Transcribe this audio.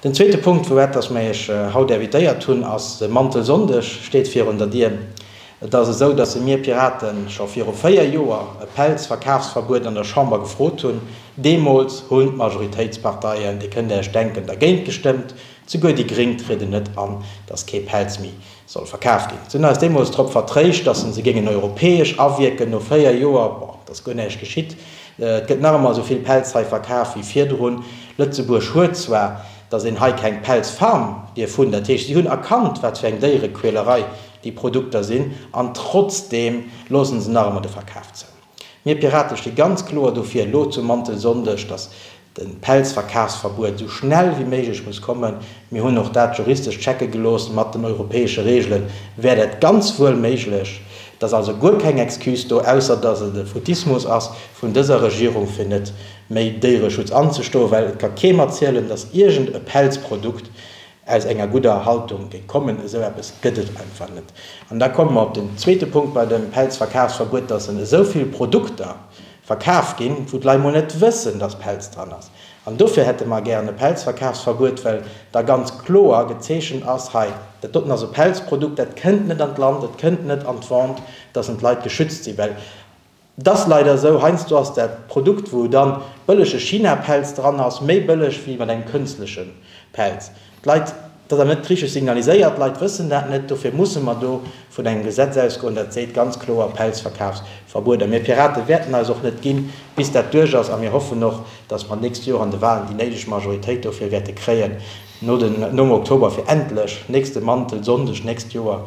Den zweete Punkt, wou eppes mei ech haut invitéiert hunn, ass de Mantelsonndeg steet virun der Dier. Et ass esou, dass se mir Piraten scho viru véier Joer e Pelzverkafsverbuet an der Chamber gefrot hunn. Deemools hunn d'Majoritéitsparteien, Dir kënnt Iech denken, dergéint gestëmmt, souguer déi Gréng trieden net an, dass kee Pelz méi soll verkaf ginn, sinn eis deemools drop vertréischt, datt en se géingen europäesch awierken. No véier Joer, bon, et ass guer näischt geschitt, et gëtt nach ëmmer esou vill Pelz hei verkaf wéi virdrun. Lëtzebuerg huet zwar, datt een hei keng Pelzfarm dierf hunn, dat heescht si hunn erkannt wat fir eng Déierequälerei déi Produkter sinn, an trotzdeem loosse se nach ëmmer de Verkaf zou. Mir Pirate sti ganz kloer dofir elo zum Mantelsonndeg, datt de Pelzverkafsverbuet esou schnell wéi méiglech muss kommen. Mir hunn och dat juristesch checke gelooss. Mat den europäesche Reegele wär dat ganz wuel méiglech. Et ass also guer keng Excuse do, ausser datt et e Foutismus ass vun dëser Regierung, fir net méi Déiereschutz anzestoen, well et ka keem erzielen, datt iergend e Pelzprodukt Aus enger gudder Haltung géint kommen, esou eppes gëtt et einfach net. An da komme mer op den zweete Punkt bei dem Pelzverkafsverbuet, dass en esou vill Produkter verkaf ginn, wou d'Lei mol net wëssen, dass Pelz dran ass. An dofir hätte mer gären e Pelzverkafsverbuet, well da ganz kloer gezeechent ass, hei, dat doten ass e Pelzprodukt, dat kënnt net an d'Land, et kënnt net an d'Vente, dass en d'Leit geschützt sinn, well Et ass leider esou, heiansdo ass dat Produkt, wou dann bëllege China-Pelz dran ass, méi bëlleg wéi mat engem kënstlechen Pelz. D'Leit, et ass awer net richteg signaliséiert, d'Leit wëssen dat net, dofir musse mer do vun engem Gesetz ausgoen, dat seet ganz kloer, Pelzverkafsverbuet. A mir Piraten wäerten eis och net ginn, bis dat duerch ass. A mir hoffen och, dass mer d'nächst Joer an de Wahlen déi néideg Majoritéit dofir wäerte kréien, no den, nom Oktober, fir endlech nächste Mantel-Sonndeg nächst Joer